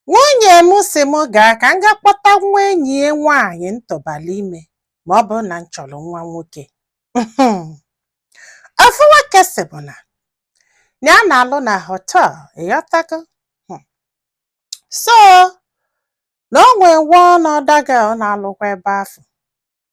Nwunye m sị m gaa ka m gaa kpọta nwa enyi ya nwaanyị m tụbalụ ime ma ọ bụrụ na m chọrọ nwa nwoke. Ofu nwoke sị bụ na ya na-alụ na họtel, ị ghọtago? Hmm. So, na o nwee one other girl na-alụkwa ebe afụ.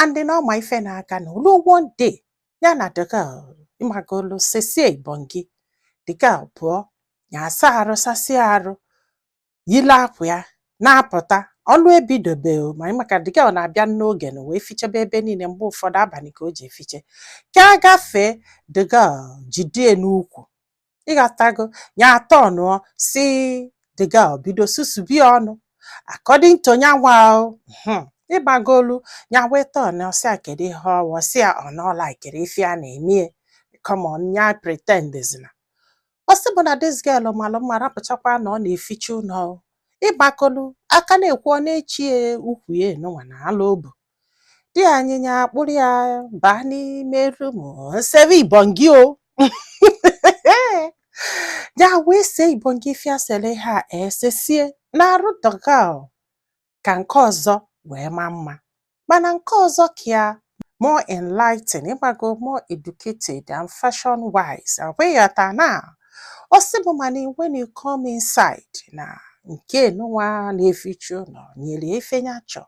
and then ọ ma ife na-aganụ o lu one day ya na the girl ị magolu sesie ibongi the girl pụọ ya asa arụ sasịa arụ yile akwa ya na-apụta ọlụ ebidobe o ma maka the girl na-abịa n'oge na wee fichebe ebe niile mgbe ụfọdụ abalị ka o ji efiche ka a gafee the girl jidie n'ukwu ịghọtago ya atọnụọ sị the girl bido susube ya ọnụ according to nyanwa o hmm, ị magolu ya wee tọnụọ sị ya kedu ihe ọ wụ ọ sị ya ọ na ọ laịkịrọ ife a na-eme ya come on ya pretend zina ọ sị bụ na this girl malụ mma rapụchakwa na ọ na-eficha ụlọ o. ị magolu a ka na-ekwu ọ na-echi ya ukwu ya nụnwa na ala obu di anyị nya akpụrụ ya baa n'ime rum sebe ibongi o ya wee see ibongi fiasele ha esesie na arụ the girl o, ka nke ọzọ wee maa mma mana nke ọzọ ka ya more enlightened ị mago more educated and fashion wise ọkwa ị ghọta na ọ sị bụ mana when you come inside na nke nụnwa na-eficha ụlọ nyere ife nya chọ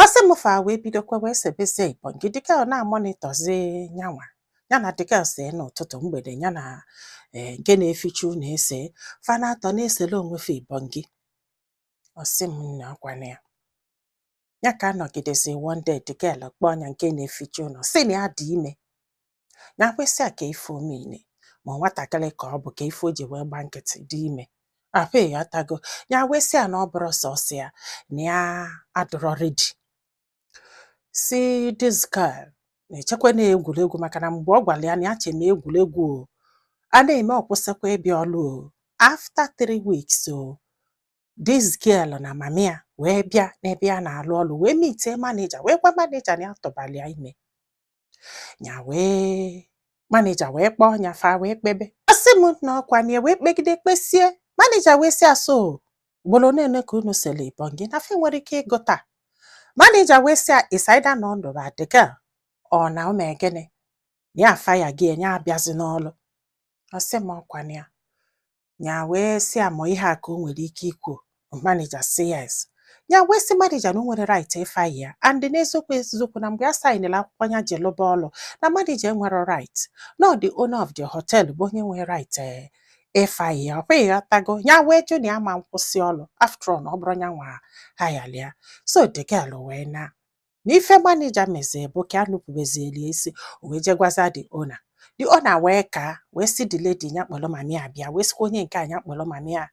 ọ sị m fa wee bidokwa wee sebezie ibongi the girl na-amonitọzi nyanwa ya na the girl see n'ụtụtụ mgbede ya na eh, nke na-eficha ụlọ ese fa n'atọ na-esele onwe fa ibongi ọ sị m na ọkwa na ya ya ka anọgidezi one day the girl kpọọ nya nke na-eficha ụlọ sị na ya dị ime nya wee sị ya ka ife ọ mean ma nwatakịrị ka ọ bụ ka ife o ji wee gba nkịtị dị ime ah ịghọtago nya wee sị ya na ọ bụrọ sọsọ ya na ya adịrọ redi sị this girl na-echekwa na egwuregwu maka na mgbe ọ gwalụ ya na ya che na egwuregwu o a na-eme ọ kwụsịkwa ịbịa ọlụ o after three weeks o This girl na mami ya wee bịa n'ebe ya na-alụ ọlụ wee mitie manija wee gwa manija na ya tụbalụ ya ime ya wee manija wee kpọọ ya fa wee kpebe ọ sị m na ọkwa na ya wee kpegide kpesie manija wee sị ya so ugboro one ka unu sele ibongi na fa enwerọ ike ịgụta manija wee sị ya it's either na ọ nụba the girl or na o mee gịnị ya afaya gị ị ya abịazi n'ọlụ ọ sị m ọkwa na ya ya wee sị ya ma ọ ihe a ka o nwere ike ikwu manija sị yes ya wee sị manija na o nwerọ right ịfire ya and n'eziokwu eziokwu na mgbe a sainela akwụkwọ ya ji lụba ọlụ na manija enwerọ right na ọ the owner of the hotel bụ onye nwere right eh, ịfire ya ọkwa ịghọtago ya wee jụ na ya ma nkwụsị ọlụ after all na ọ bụrọ ya nwa hirelị ya so the girl wee na na ife manija mezie bụ ka a nupụbezieli isi o wee jee gwaza the owner the owner wee ka wee sị the lady nya kpọrọ mami ya bịa wee sịkwa onye nke a nya kpọrọ mami ya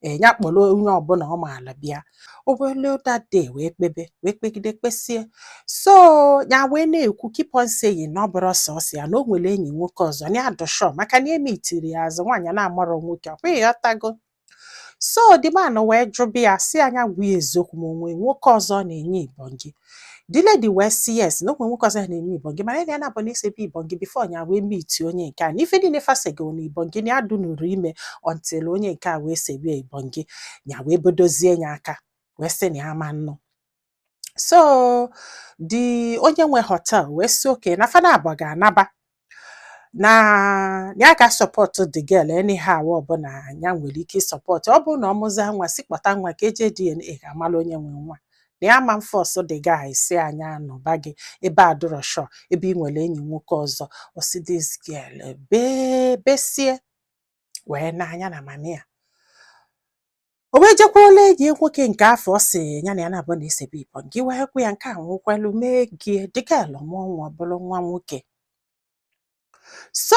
ee nya kpọrọ onye ọbụla ọ maala bịa o wee luo that day wee kpebe wee kpegide kpesie so ya wee na-ekwu keep on saying na ọ bụrọ sọsọ ya na o nwere enyi nwoke ọzọ na ya adụ sure maka na emeetirọ ya as nwaanyị na-amarọ nwoke ọkwa ịghọtago so the man wee jụba ya sị ya nya gwa ya eziokwu ma o nwe nwoke ọzọ na-enye ibongi the lady wee sị yes na o nwe nwoke ọzọ na-enye ibongi mana ya na ya naabọ na-esebu ibongi before nya wee meet onye nke a na ife niile fa sego na ibongi na ya adụnụrọ ime until onye nke a wee sebe ibongi nya wee bodozie ya aka wee sị na ya ma nnụ so the onye nwe hotel wee sị okay na fa naabọ ga-anaba na ya ga-asupport the girl anyhow ọbụla ya nwere ike ịsupport ọ bụrụ na ọ mụza nwa sị kpọta nwa ka e je DNA ka a malụ onye nwe nwa na ya ma mforce the guy sị ya nya nụba gị ebe adụrọ sure ebe ị nwere enyi nwoke ọzọ ọ sị this girl bee besie wee naa nya na mami ya o wee jekwulu enyi ya nwoke nke afụ ọ sị ya na ya naabọ na-esebu ibongi wee kwụ ya nke anwa kwelu mee gị the girl mụọ nwa ọ bụrụ nwa nwoke so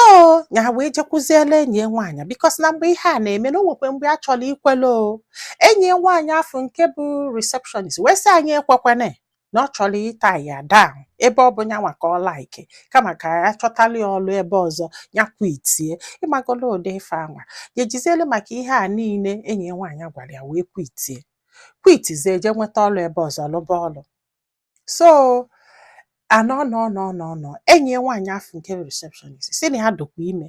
ya wee jekwuziela enyi ya nwaanyị because na mgbe ihe a na-eme na o nwekwe mgbe a chọrọ ikwele o enyi ya nwaanyị afụ nke bụ receptionist wee sị ya nya ekwekwana na ọ chọrọ ịtie ya down ebe ọ bụ nyanwa ka ọ like kama ka ya chọtalị ya ọlụ ebe ọzọ ya kwitie ịmagolo ụdị ife anwa ya ejizielu maka ihe a niile enyi ya nwaanyị gwara ya wee kwitie kwitizie je nweta ọlụ ebe ọzọ lụba ọlụ so anọ nọ nọ nọ nọ enyi ya nwaanyị afụ nke receptionist sị na ya dụkwa ime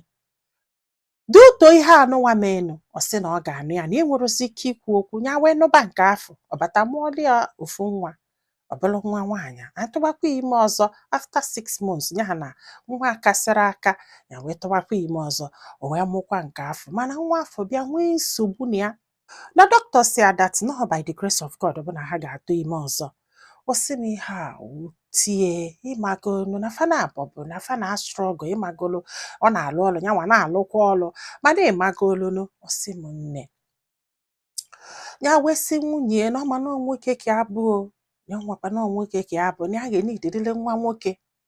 due to ihe anụnwa menụ ọ sị na ọ ga-anụ ya na enwerọzi ike ikwu okwu ya wee nụba nke afụ ọ bata mụọlụ ya ofu nwa ọ bụlụ nwa nwaanyị atụbakwa ime ọzọ after six months ya na nwa akasịrọ aka ya wee tụbakwa ime ọzọ o wee mụkwa nke afụ mana nwa afụ bịa nwee nsogbu na ya na doctor sị ya that na ọ by the grace of God ọ bụ na ha ga-atụ ime ọzọ ọ sị m ihe a wute ya ịmagolu na fa naabọ bụ na fa na-astruggle ịmagolu ọ na-alụ ọlụ ya nwa na-alụkwa ọlụ mana ịmagolunu ọ sị m nne ya wee sị nwunye na ọ ma na ọ nwoke ka ya bụ ya nwakwa na ọ nwoke ka ya bụ na ya ga-enidedele nwa nwoke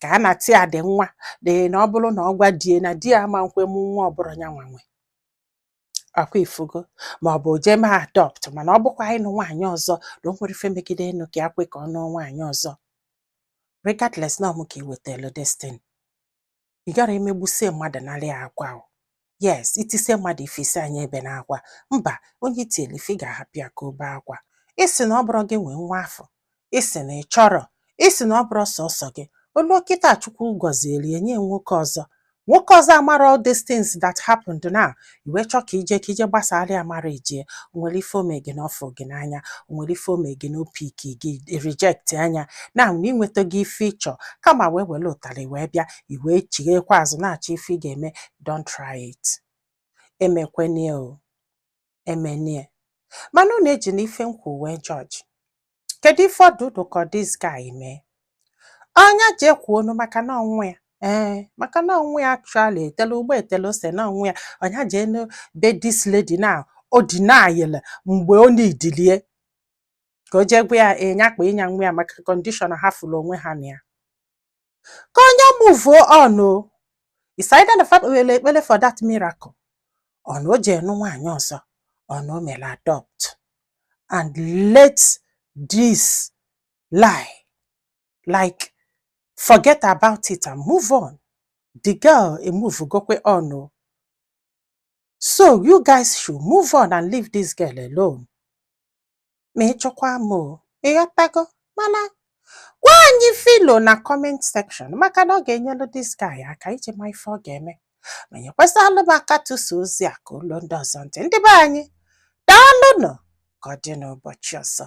ka a na-atị ya dị nwa dị na ọ bụrụ na ọ gwa di ya na di ya ama nkwe mụ nwa ọ bụrụ ya nwa nwe ọkwa ị fụgo ma ọ bụ jee mee adopt mana ọ bụkwa ịnụ nwaanyị ọzọ na o nwere ife megide ịnụ ka ya kwe ka ọ nụọ nwaanyị ọzọ regardless na ọ mụ ka iwetelu destin ị gara emegbusie mmadụ narị ya akwa o yes i tisie mmadụ ife sị a nya ebena akwa mba onye i tieli ife ị ga-ahapụ ya ka o bee akwa ị sị na ọ bụrọ gị nwe nwa afụ ị sị na ị chọrọ ị sị na ọ bụrọ sọsọ gị o luo kịta chukwu gọzieli e nye nwoke ọzọ nwoke ọzọ a mara all these things that happened now i wee chọọ ka i jee ka i jee gbasara ya marriage ya o nwere ife o me gị na ọ fụ gị n'anya o nwere ife o me gị na o pick gị i reject ya nya na na i nwetago ife ị chọ karma wee were ụtarị wee bịa i wee chighekwa azụ na-achọ ife ị ga-eme don't try it emekwene ya o emene ya mana unu ejina ife m kwu wee judge kedu ife ọ dị unu ka this guy mee ọ nya jee kwuonu maka na ọ nwa ya ee eh, maka na ọ nwa ya actually etele ụgba etele ose na ọ nwa ya ọ nya jee na be this lady na o denyele mgbe o needili ya ka o jee gwa ya nya eh, kpanye ya nwa ya maka condition ha fụrụ onwe ha na ya ka ọ nya move on o is either na fa kpewere ekpere for that miracle or na o jee nụ nwaanyị ọzọ or na o mere adopt and let this lie like forget about it and move on the girl emovegokwe on o So you guys should move on and leave this girl alone. Ma ị chọkwa m o, ị ghọtago? Mana gwa anyị ife i lo na comment section maka na ọ ga-enyelu this guy aka iji ma ife ọ ga-eme. Ma nyekwasịalụ m aka tụsa ozi a ka o luo ndị ọzọ ntị. Ndị be anyị, daalụnụ ka ọ dị n'ụbọchị ọzọ.